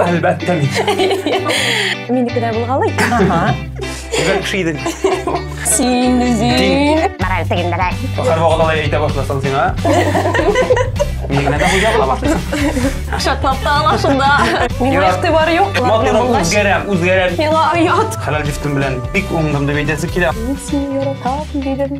Әлбәттә мин. Минеке дә булгалый. Ага. Бер кеше идең. Син үзең. Мораль тегендерәк. Һәр вакыт алай әйтә башласаң сиңа. Мин генә дә хуҗа була башласаң. Шатлап та ала шунда. Миңа игътибар юк. Матурым үзгәрәм, үзгәрәм. Миңа оят. Хәләл җифтем белән бик уңдым дип әйтәсе килә. Мин сине яратам дидем.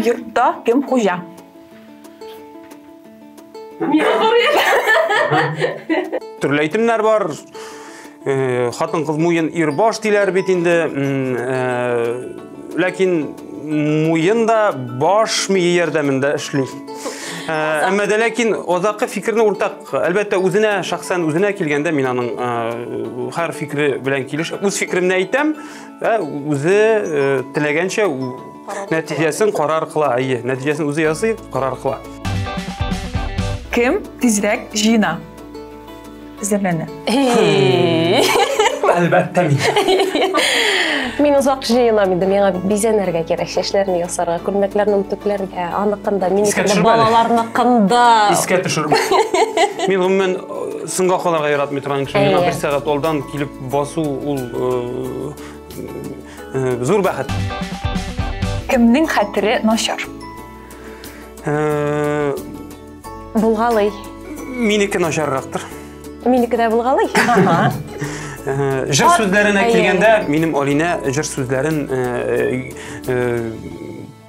Йортта кем хуҗа? Төрле әйтемнәр бар. Э, хатын кыз муен ир баш диләр бит инде. Э, ләкин муен да баш мие ярдәмендә эшли. Э, әмма дә ләкин озакы фикерне уртак Әлбәттә, үзенә, шәхсән үзенә килгәндә мин аның э, һәр фикере белән килеш, үз фикеремне әйтәм, ә үзе э, теләгәнчә нәтиҗәсен карар кыла, әйе, нәтиҗәсен үзе ясый, карар кыла. Кем тизрәк җыена? Эзләмәне. Әлбәттә мин. Мин озак җыенам инде, миңа бит бизәнергә кирәк, чәчләрне ясарга, күлмәкләрне үтүкләргә, аныкында, минекендә, балаларныкында. Искә төшереп. Мин гомумән э, соңга калырга яратмый торган кеше. Миңа бер сәгать алдан килеп басу ул э, э, зур бәхет. Кемнең хәтере начар? Булгалый. Минеке начаррактыр. Минеке дә булгалый. Җыр сүзләренә килгәндә, минем Алинә җыр сүзләрен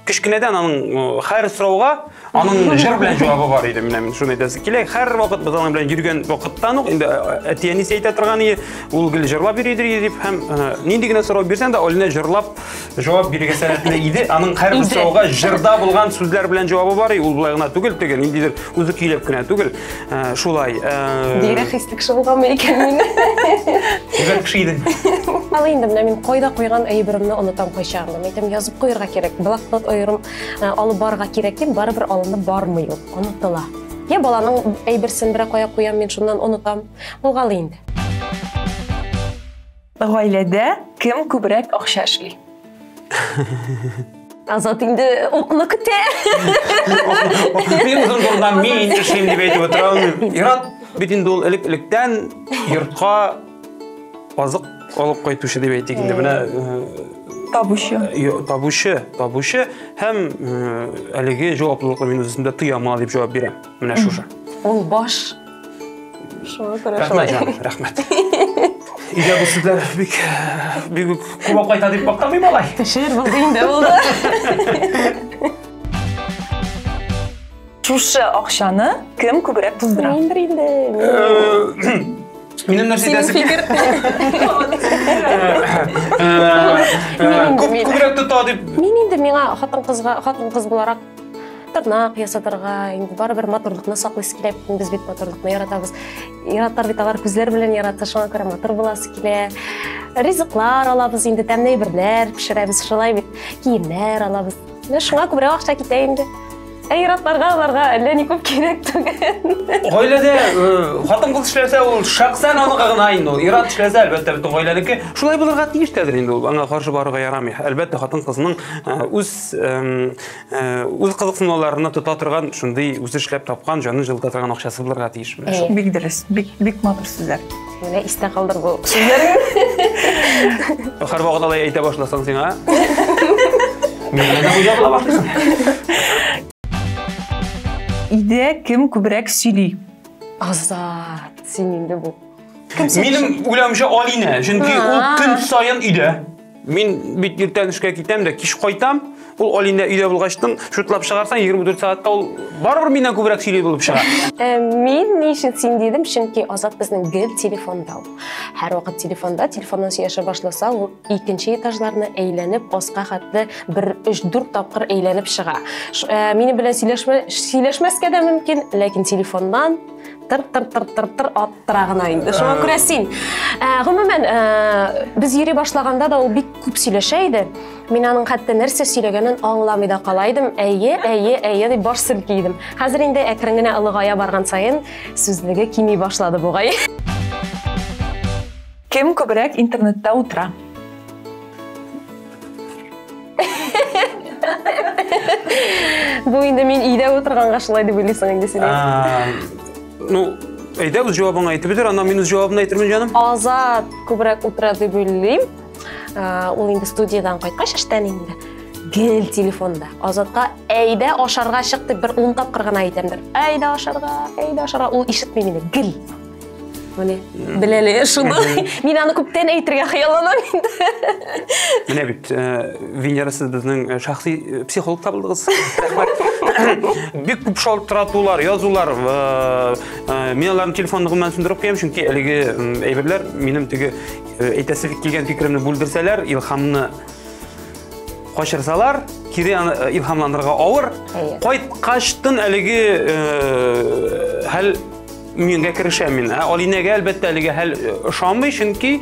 кечкенәдән аның хәр сорауга аның җыр белән җавабы бар иде менә мин шуны әйтәсе килә хәр вакыт без аның белән йөргән вакыттан ук инде әти әнисе әйтә торган иде ул гел җырлап йөри дип һәм нинди генә сорау бирсәң дә алинә җырлап Җавап бирергә сәләтле иде. Аның һәрбер сорауга җырда булган сүзләр белән җавабы бар. Ул былай гына түгел, теге ниндидер үзе көйләп кенә түгел. Э, шулай. Э, Бигрәк хис кеше булганмы икән мин? Бигрәк кеше идең. Ал инде менә мин кайда куйган әйберемне онытам кайчан. Мин әйтәм, язып куярга кирәк. Блокнот аерым э, алып барырга кирәк дип, барыбер алынып бармый ул. Онытыла. Я баланың әйберсен берәр кая куям, мин шуннан онытам. Булгалы инде. Гаиләдә кем күбрәк акча эшли? Азат инде укны көтә. Мин зур булган мин эшлим дип әйтеп утырам. Ират бит инде ул элек-электән йортка азык алып кайтучы дип әйтик инде. Менә табучы табучы табучы һәм әлеге җаваплылыкны мин үземдә тояма дип җавап бирәм Менә шушы. Ул баш. Шуңа күрә шулай. Рәхмәт, җаным, рәхмәт. Өйдә бу сүзләр бик бик үк куып кайта дип мактамый малай. Шигырь булды инде булды. Шушы акчаны кем күбрәк туздыра? Мин бер инде. Минем нәрсә Синең әйтәсе фикер. Күп күбрәк тота дип Мин инде миңа хатын-кызга, хатын-кыз буларак тырнак ясатырга инде барыбер матурлыкны саклыйсы килә без бит матурлыкны яратабыз яратар бит алар күзләр белән ярата шуңа күрә матур буласы килә ризыклар алабыз инде тәмле әйберләр пешерәбез шулай бит киемнәр алабыз менә шуңа күбрәк акча китә инде ә ир-атларга аларга әллә ни күп кирәк түгел гаиләдә хатын кыз эшләсә ул шәхсән аныкы гына инде ул ир-ат эшләсә әлбәттә бөтен гаиләнеке шулай булырга тиеш тәдер инде ул аңа каршы барырга ярамый әлбәттә хатын кызның үз үз кызыксынуларына тота торган шундый үзе эшләп тапкан җаны җылыта торган акчасы булырга тиеш менә шул бик дөрес бик бик матур сүзләр менә истә калдыр бу сүзләрне һәрвакыт алай әйтә башласаң сиңа өйдә кем күбрәк сөйли азат син инде бу минем уйлавымча алинә чөнки ул көн саен өйдә Мин бит иртән эшкә китәм дә, кич кайтам. Ул Алинә өйдә булгачтын, шутлап чыгарсаң 24 сәгатьтә ул барыбер миннән күбрәк сөйли булып чыга. Ә мин ни өчен син дидем, чөнки Азат безнең гел телефонда ул. Һәр вакыт телефонда, телефоннан сөйләшә башласа, ул икенче этажларны әйләнеп, аска хәтле бер 3-4 тапкыр әйләнеп чыга. Минем белән сөйләшмәскә дә мөмкин, ләкин телефоннан тыр тыр тыр тыр тыр аттыра гына инде шуңа күрә син ә, гомумән ә, без йөри башлаганда да ул бик күп сөйләшә иде мин аның хәтта нәрсә сөйләгәнен аңламый да кала идем әйе әйе әйе дип баш селки идем хәзер инде әкрен генә олыгая барган саен сүзлеге кими башлады бугай Кем күбрәк интернетта утыра? Бу инде мин өйдә утырганга шулай дип уйлыйсың инде син. Ну, әйдә үз җавабың әйтеп бетер, аннан мин үз җавабын әйтермен җаным. Азат күбрәк утыра дип уйлыйм. Ул инде студиядан кайткач эштән инде гел телефонда. Азатка әйдә ашарга чык дип бер 10 тапкыр гына әйтәмдер. Әйдә ашарга, әйдә ашарга. Ул ишетми мине гел. Менә беләле шуны. Мин аны күптән әйтергә хыялланам инде. Менә бит э, Венера сез безнең э, шәхси э, психолог табылдыгыз. Бик күп шалтыратулар, язулар, мин аларның телефон ныгымнан сүндереп куям, чөнки әлеге әйберләр минем теге әйтәсе килгән фикеремне бүлдерсәләр, илхамны качырсалар, кире илхамланырга авыр. Кайткачтын әлеге хәл Миңгә керешәм мин. Ә Алинәгә әлбәттә әлегә хәл э, ошамый, чөнки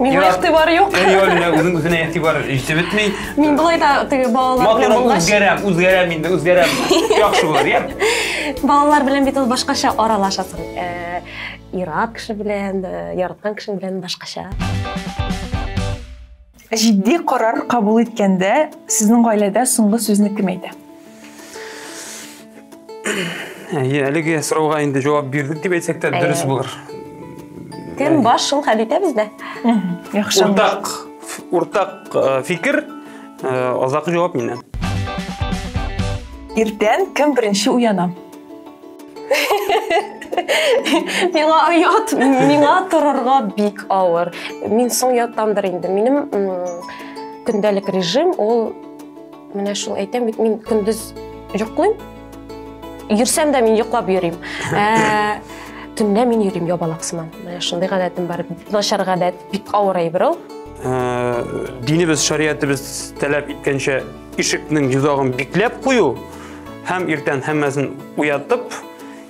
Миңа Ярат- игътибар юк. Әй, Алинә үзен үзенә игътибар җитеп бетми. Мин былай да теге балалар белән Матурлык булгач, үзгәрәм, үзгәрәм инде, үзгәрәм. Яхшы булыр, я. балалар белән бит ул башкача аралашасың. Э, Ират кеше белән, э, яраткан кешең белән башкача. Җитди карар кабул иткәндә сезнең гаиләдә соңгы сүзне кем әйтә? Әйе, әлеге сорауга инде җавап бирдек дип әйтсәк тә дөрес булыр. Кем баш шул хәл итә бездә? Яхшы. Уртак, уртак э, фикер, э, азакы җавап миннән. Иртән кем беренче уяна? миңа оят миңа торырга бик авыр мин соң яттандыр инде минем көндәлек режим ул менә шул әйтәм бит мин көндез йоклыйм йөрсәм дә мин йоклап йөрим ә, төнлә мин йөрим ябалак сыман менә шундый гадәтем бар начар гадәт бик авыр әйбер ул ә, динебез шариятыбыз таләп иткәнчә Ишекнең йозагын бикләп кую һәм иртән һәммәсен уятып,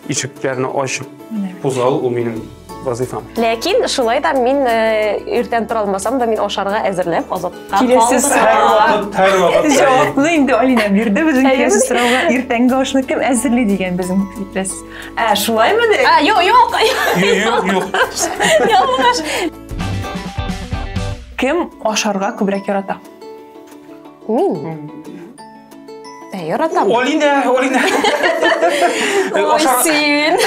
ишекләрне ачып кузгалу ул минем вазифам. Ләкин шулай да мин э, иртән тора алмасам да мин ашарга әзерләп азатка Киләсез һәр вакыт, һәр вакыт. Җавапны инде Алина бирде безнең киләсе сорауга. Иртәнге ашны кем әзерли дигән безнең иптәш. Ә, шулаймы ди? Ә, юк, юк. Юк, юк. Ялгыш. Кем ашарга күбрәк ярата? Мин? Ә, яратам. Олинә, Олинә. Ой, син.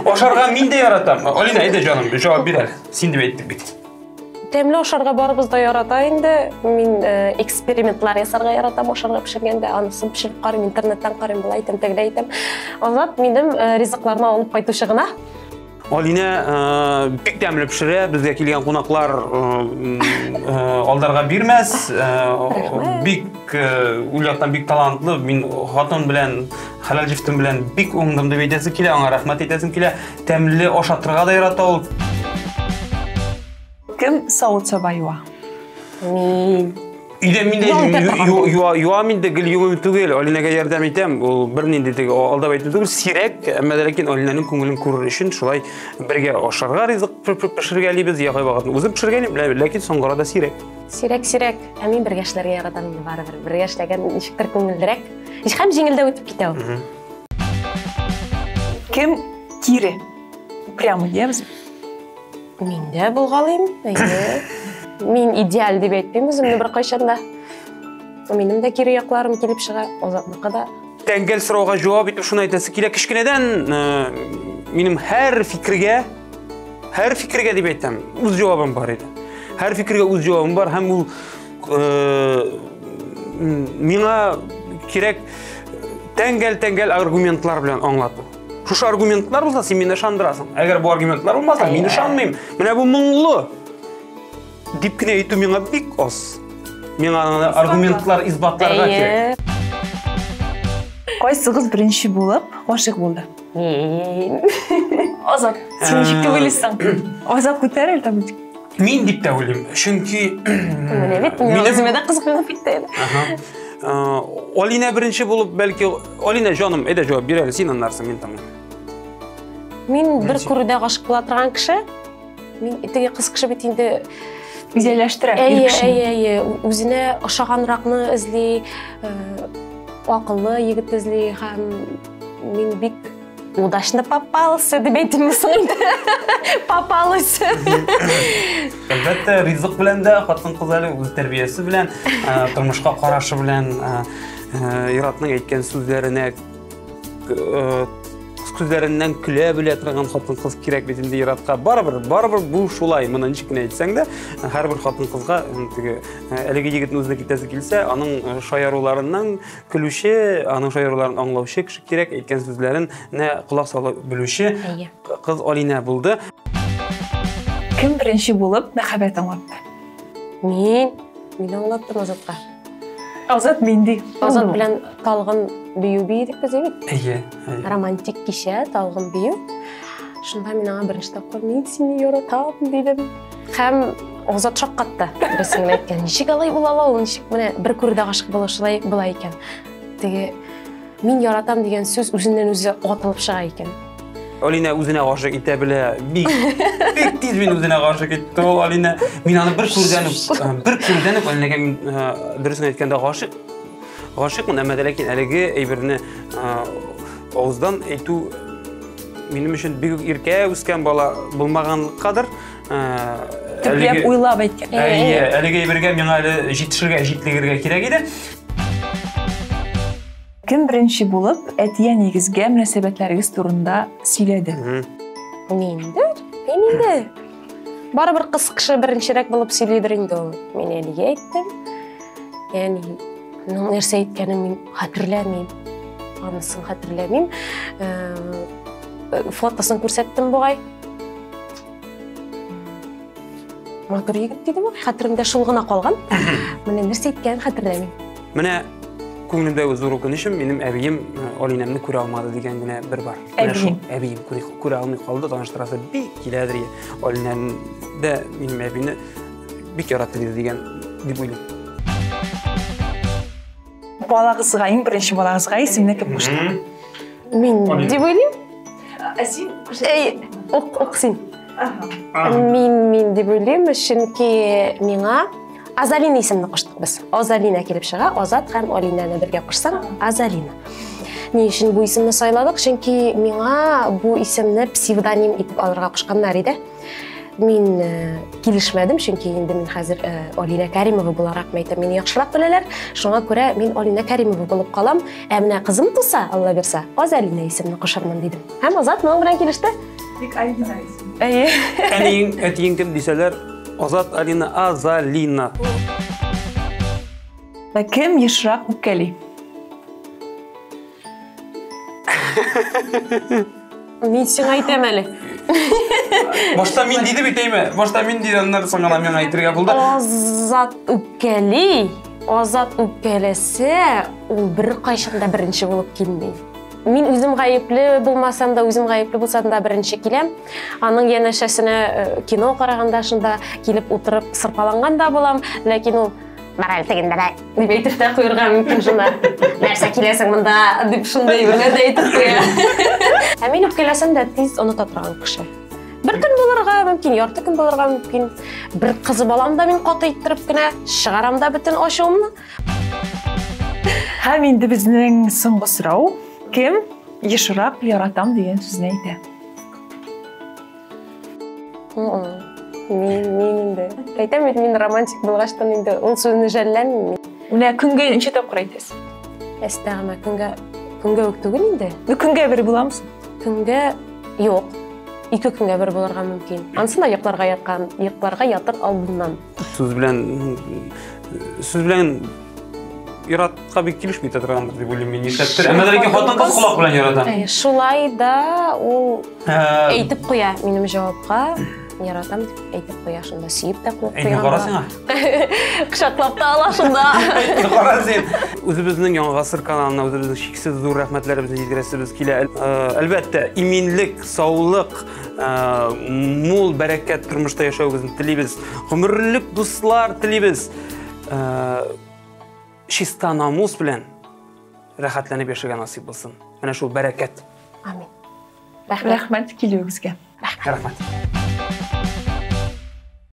Ашарга мин дә яратам. Олинә, әйдә җаным, җавап бир әле. Син дип әйттек бит. Тәмле ашарга барыбыз да ярата инде. Мин э, экспериментлар ясарга яратам ашарга пешергәндә. Анысын пешереп карыйм, интернеттан карыйм, былай итәм, тегеләй итәм. Азат минем э, ризыкларны алып кайтучы гына. Алинә бик тәмле пешерә, безгә килгән кунаклар алдарга бирмәс. Бик ул яктан бик талантлы. Мин хатын белән, хәләл җифтем белән бик уңдым дип әйтәсем килә, аңа рәхмәт әйтәсем килә. Тәмле ашатырга да ярата ул. Кем савыт саба юа? Мин. Өйдә мин дә юам инде, гел юмым түгел. Алинәгә ярдәм итәм. Ул бернинди теге алдап әйтү түгел, сирәк, әмма дә ләкин Алинәнең күңелен күрер өчен шулай бергә ашарга ризык пешергәлибез, ягы вакытын үзем пешергәнем, ләкин соңгыра да сирәк. Сирәк, сирәк. Ә мин бергә эшләргә яратам инде барыбер. Бергә эшләгән ничектер күңеллерәк. Һәм җиңелдәп үтеп китә ул. Кем кире? Прямо дибез. Мин дә булгалыйм. Мин идеаль дип әйтмим үземне беркайчан да. Минем дә кире якларым килеп чыга, Азатныкы да. Тәңгәл сорауга җавап итеп шуны әйтәсе килә. Кечкенәдән минем һәр фикергә, һәр фикергә дип әйтәм, үз җавабым бар иде. Һәр фикергә үз җавабым бар һәм ул миңа кирәк тәңгәл-тәңгәл аргументлар белән аңлату. Шушы аргументлар булса, син мине ышандырасың. Әгәр бу аргументлар булмаса, мин ышанмыйм. Менә бу моңлы. Дип кенә әйтү миңа бик аз. Миңа аргументлар исбатларга кирәк. Кайсыгыз беренче булып гашык булды? Азат, син ничек дип уйлыйсың? Азат күтәрер тә Мин дип тә уйлыйм, чөнки Менә бит мин Минем- үземә дә кызыксынып китте әле. Ага. Э, Алина беренче булып, бәлки Алина җаным, әйдә җавап бир әле, син аннарсың, мин тыңлыйм. Мин бер күрүдә гашык була торган кеше. Мин теге кыз кеше бит инде Үзәләштерә. ир әйе, кешене. әйе, әйе, ү- үзенә ошаганракны эзли, э, акыллы егет эзли һәм мин бик удачно попался деп әйтимме соң инде попалась әлбәттә ризык белән дә хатын кыз әле үз тәрбиясе белән тормышка карашы белән иратның әйткән сүзләренә күзләреннән көлә белә торган хатын кыз кирәк бит инде иратка барыбер барыбер бу шулай моны ничек кенә әйтсәң дә һәрбер хатын кызга теге әлеге егетне үзенә китәсе килсә аның шаяруларыннан көлүче аның шаяруларын аңлаучы кеше кирәк әйткән сүзләрен нә колак салып белүче кыз алинә булды кем беренче булып мәхәббәт аңлатты мин мин аңлаттым азатка азат менди азат белән талгын бию бийдек без бит әйе романтик кичә талгын бию шунда мин аңа беренче тапкыр мин сине яратам дидем Хәм Озат шаккатты. Берсе генә әйткән, ничек алай була ала ул, ничек менә бер күрүдә гашык була шулай була икән. Теге мин яратам дигән сүз үзеннән үзе атылып чыга икән. Алина үзенә гашык итә белә. Бик бик тиз мин үзенә гашык итте ул Алина. Мин аны бер күрдән э, бер күрдән үк Алинага мин э, дөресен әйткәндә гашык. Гашыкмын, әмма ләкин әлеге әйберне э, авыздан әйтү минем өчен бик иркә үскән бала булмаганлыккадыр. Төпләп уйлап әйткән. Әйе, әлеге әйбергә миңа әле җитешергә, җитлегергә кирәк иде. Кем беренче булып әтия нигезгә мөнәсәбәтләрегез турында сөйләде? Миндер, миндер. Барыбер кыз кеше беренчерәк булып сөйлидер инде ул. Мин әлегә әйттем. Яни, ну нәрсә әйткәнен мин хәтерләмим. Анысын хәтерләмим. Фотосын күрсәттем бугай. матур егет диде ма хәтеремдә шул гына калган менә нәрсә әйткәнен хәтерләмим менә күңелемдәге зур үкенечем минем әбием э, алинәмне күрә алмады дигән генә бер бар менә шул әбием күрә алмый калды таныштырасы бик киләдер алинәне дә минем әбине бик яратты диде дигән дип уйлыйм балагызга иң беренче балагызга исемне кем кушты мин дип уйлыйм ә син эй ук ук син мин мин дип уйлыйм чөнки миңа азалина исемне куштык без азалина килеп чыга азат һәм алинаны бергә кушсаң азалина ни өчен бу исемне сайладык чөнки миңа бу исемне псевдоним итеп алырга кушканнар иде мин э, килешмәдем чөнки инде мин хәзер э, алинә кәримова буларак мәйтәм мине яхшырак беләләр шуңа күрә мин алинә кәримова булып калам ә менә кызым туса алла бирса азалина исемне кушармын дидем һәм азат моның белән килеште тик алина исем әйе әниең әтиең кем дисәләр азат алина азалина кем ешрак үпкәли Мин сиңа әйтәм әле. Башта мин диде бит әйме. Башта мин диде, аннан соң гына миңа әйтергә булды. Азат үпкәли. Азат үпкәләсә, ул бер кайчан да беренче булып килми. Мин үзем гаепле булмасам да, үзем гаепле булсам да беренче киләм. Аның янәшәсенә э, кино караганда шунда килеп утырып сырпаланган да булам, ләкин ул мораль тегендә дә дип әйтеп тә куярга мөмкин шунда нәрсә киләсең монда дип шундай бер нәрсә әйтеп куя ә мин үпкәләсәм дә тиз оныта торган кеше бер көн булырга мөмкин ярты көн булырга мөмкин бер кызы балам да мин каты иттереп кенә чыгарам да бөтен ачуымны һәм инде безнең соңгы сорау кем ешрак яратам дигән сүзне әйтә инде әйтәм бит мин романтик булгачтан инде ул сүзне жәлләмим менә көнгә ничә тапкыр әйтәсез әстәгъмә көнгә көнгә үк түгел инде көнгә бер буламсың көнгә юк ике көнгә бер булырга мөмкин анысы да йокларга яткан йокларга ятыр алдыннан Сүз белән сүз белән яратка бик килешми торган дип уйлыйм мин. Нишләптер. Әмма ләкин хатын-кыз колак белән ярата. Э, Шулай да ул Ә, әйтеп куя минем җавапка. Яратам дип әйтеп куя шунда. Сөеп тә куып Әйтми кара сиңа. Кочаклап та ала шунда. Әйтми кара син. Үзебезнең Яңа гасыр каналына үзебезнең чиксез зур рәхмәтләребезне җиткерәсебез килә. Ә, Әлбәттә, иминлек, саулык, мул бәрәкәт тормышта яшәвегезне телибез гомерлек дуслар телибез чиста намус белән рәхәтләнеп яшәргә насыйп булсын менә шул бәрәкәт амин рәхмәт рәхмәт килүегезгә рәхмәт